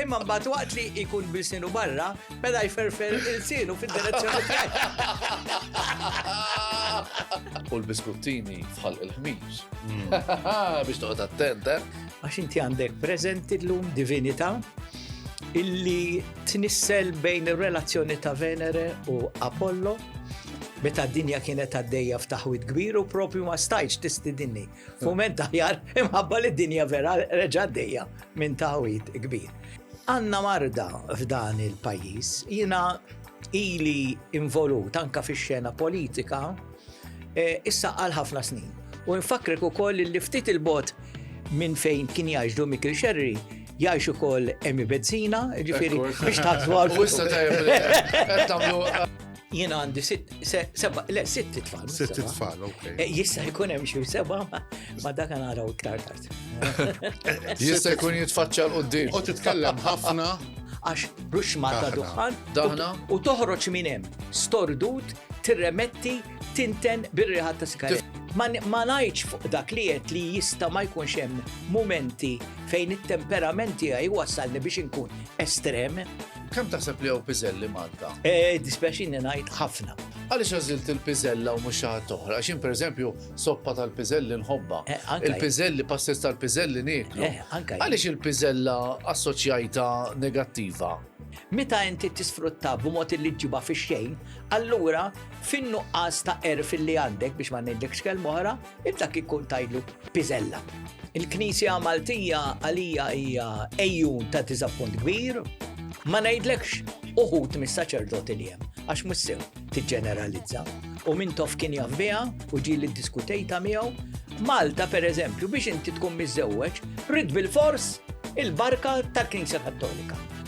Imma mbagħad waqt li jkun bil-sinu barra, beda jferfer il-sinu fid-direzzjoni U l-biskuttini fħal il-ħmiġ. Hmm. Biex toqgħod attent, eh? Għax inti għandek preżenti llum divinità illi tnissel bejn ir-relazzjoni ta' Venere u Apollo meta d-dinja kienet għaddejja f'taħwid kbir u propju ma stajx tistidinni. Fument aħjar imħabba li d-dinja vera reġa' dejja minn tawit kbir. Għanna marda f'dan il-pajis, jina ili involut anka fi xena politika, e, issa għal ħafna snin. U nfakrek u koll li ftit il-bot minn fejn kien jgħajġdu Mikil Xerri, jgħajxu koll emi bezzina, ġifiri, biex taħt għal. U issa tajja, Jiena għandi sitt, seba, le, sitt tfal. Sitt tfal, ok. Eh, jista' jkun hemm xi seba, ma dak naraw iktar tard. Jista' jkun jitfaċċa l qudiem U titkellem ħafna. Għax bruxma ta' duħan. Daħna. U toħroġ minn hemm. Stordut, tirremetti, tinten bir-riħat ta' sigaret. Ma ngħidx fuq dak li qed li jista' ma jkunx hemm mumenti fejn it-temperamenti għaj wassalni biex inkun estrem, Kemm taħseb li hawn piżelli Malta? Eh, dispjaċini ngħid ħafna. Għaliex għażilt il-piżella u mhux xi ħadd oħra? Għax pereżempju soppa tal-piżelli nħobba. Eh, il-piżelli, passes tal-piżelli nieklu. Eh, għaliex il-piżella assoċjajta negattiva? Meta inti tisfrutta b'mod li ġiba fi xejn, allura fin-nuqqas ta' erf li għandek biex ma ngħidlekx kelm oħra, Inta kif kont tgħidlu piżella. Il-Knisja Maltija għalija hija ejjun ta' diżappunt kbir, ma ngħidlekx uħud mis-saċerdoti li hemm, għax mhux sew tiġġeneralizza. U min tof kien jaf biha u ġieli ddiskutejta miegħu. Malta, per eżempju, biex inti tkun miżewweġ, rid bil-fors il-barka tal-Knisja Kattolika.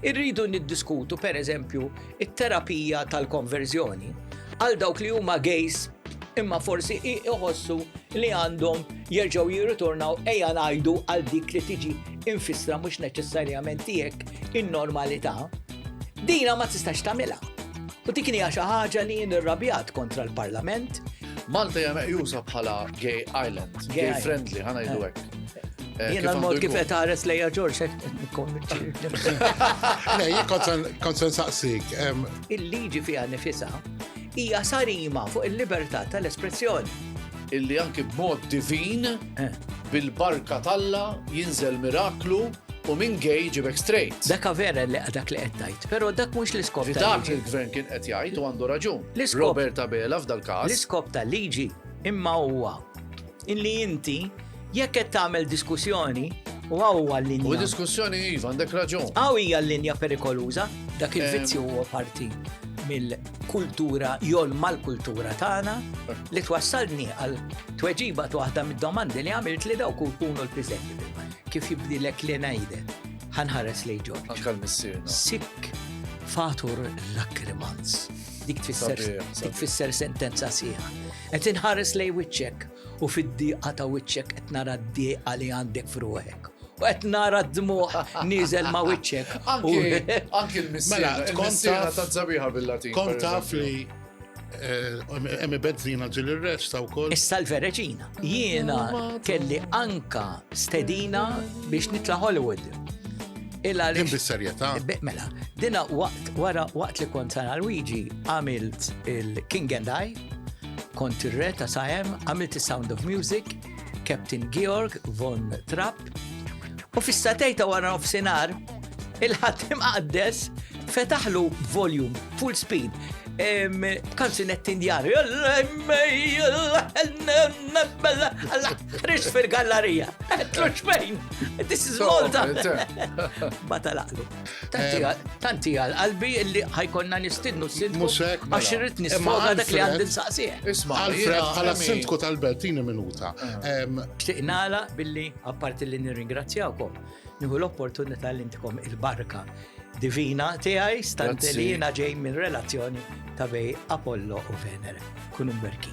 Irridu niddiskutu, per eżempju, it-terapija tal-konverżjoni għal dawk li huma gejs imma forsi iħossu li għandhom jerġgħu jirritornaw ejja ngħidu għal dik li tiġi infissra mhux neċessarjament tiegħek in-normalità. Dina ma tistax tagħmilha. U dik hija xi ħaġa li jien irrabjat kontra l-Parlament. Malta hija meqjusa bħala gay island, gay friendly, ħana jdu eh. hekk. Jena l-mod kif qed ħares lejja Ġorġ qed konvinċi. Le, jien kont se nsaqsik. Il-liġi fiha nifisha hija sarima fuq il-libertà tal-espressjoni. Illi anki b'mod divin eh. bil-barka talla jinżel miraklu u minn gej ġibek straight. Daka vera li dak li qed tgħid, però dak mhux l-iskop. Dak li l-gvern kien qed jgħid u għandu raġun. Robert Abela f'dal-każ. L-iskop tal-liġi imma huwa Illi inti, jekk qed tagħmel diskussjoni, u hawn huwa l-linja. U diskussjoni iva, għandek raġun. Hawn hija l-linja perikoluża, dak il-vizzju eh. huwa parti mill-kultura jol mal-kultura tagħna li twassalni għal tweġiba waħda mid-domandi li għamilt li dawk kunu l-piżetti. Kif jibdilek li ngħide? Ħanħares li ġor. Anka l-missier. Sik fatur lakrimans. Dik tfisser sentenza sieħa. Qed inħares lejn wiċċek u fid-dieqa ta' wiċċek qed nara d-dieqa li għandek f'ruħek. U qed nara d-dmuħ nieżel ma' wiċċek. Anki l-missera mela, ta' zabiħa bil-Latin. Kont taf li eh, Emi Bezzina ġil il-resta u koll. Issa l-vereġina. Jiena kelli anka stedina biex nitla Hollywood. Illa li. Bis-serjetà. Mela, dina waqt wara waqt li kont sana Luigi għamilt il-King and I Kont ir-re ta' Saem, għamilt is-Sound of Music, Captain Georg von Trapp, u fis-satej ta' wara nofsinhar il-ħadd imqaddes fetaħlu volume full speed kanzunet indjani. Rix fil-gallerija. Tlux fejn. This is Malta. Batalaqlu. Tanti għal qalbi illi ħajkonna nistidnu s-sindku. Musek, mela. għax irrit nisfoga dak li għandin saqsieħ. Isma, Alfred, għala s-sindku tal-Bertini minuta. Xtiqnala ah. billi, apparti li nirringrazzjawkom, nieħu l-opportunità li intikom il-barka divina tiegħi stant li jiena ġej minn relazzjoni ta' bej Apollo u Venere. Kunu mberki.